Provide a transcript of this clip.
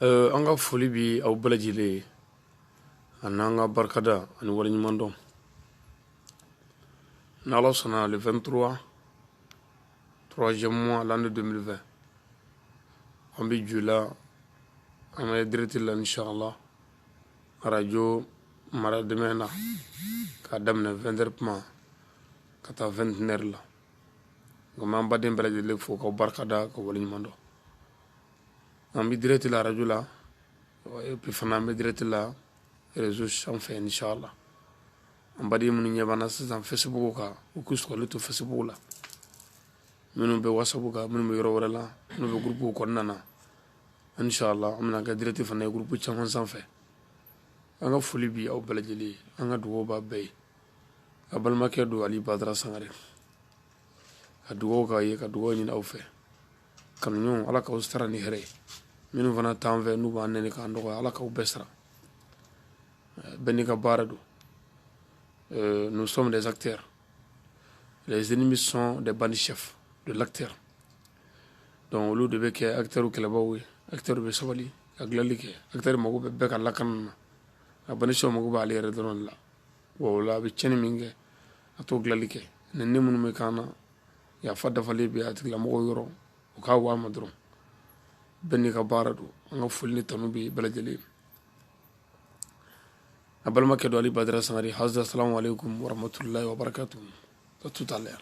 Euh, an ka foli bi aw bɛɛ lajɛlen ye ani an ka barikada ani waleɲuman dɔn ni ala sɔnna le 23 troisième mois l'année 2020 an bɛ jula an bɛ direct la inshallah arajo mara dɛmɛ na k'a daminɛ 20 heures kuma ka taa 21 heures la nka an baden bɛɛ lajɛlen fo ka barika da ka wale ɲuman dɔn an bɛ direct la radio la et puis fana an bɛ direct la réseau sanfɛ inchallah an baden minnu ɲɛ b'an na sisan facebook kan u k'u sɔgɔli to facebook la minnu bɛ whatsapp kan minnu bɛ yɔrɔ wɛrɛ la minnu bɛ groupe kɔnɔna na inchallah an bɛna kɛ direct fana ye groupe caman sanfɛ an ka foli bi aw bɛɛ lajɛlen an ka dugawu b'a bɛɛ ye a balimakɛ don ali badara sangare ka dugawu k'aw ye ka dugawu ɲini aw fɛ kanuɲɔgɔnw ala k'aw sara ni hɛrɛ ye minnu fana t'an fɛ n'u b'an nɛni k'an dɔgɔya ala k'aw bɛɛ sara bɛɛ n'i ka baara don nous sommes des acteurs les ennemis sont des bandits chefs de l'acteur donc olu de bɛ kɛ acteur kɛlɛbaw ye acteur bɛ sabali ka dilanli kɛ acteur mako bɛ bɛɛ ka lakana na a bandit chef mako b'ale yɛrɛ dɔrɔn la wa o la a bɛ cɛnni min kɛ a t'o dilanli kɛ nɛni minnu bɛ k'an na yafa dafalen bɛ a tigilamɔgɔw yɔrɔ u k'a waa ma dɔrɔn bɛɛ n'i ka baara don an ka foli ni tanu bɛ bɛɛ lajɛlen a balimakɛ don ali badara sangare assalamu aleykum waramatulahi wabarakatu à tout à l'heure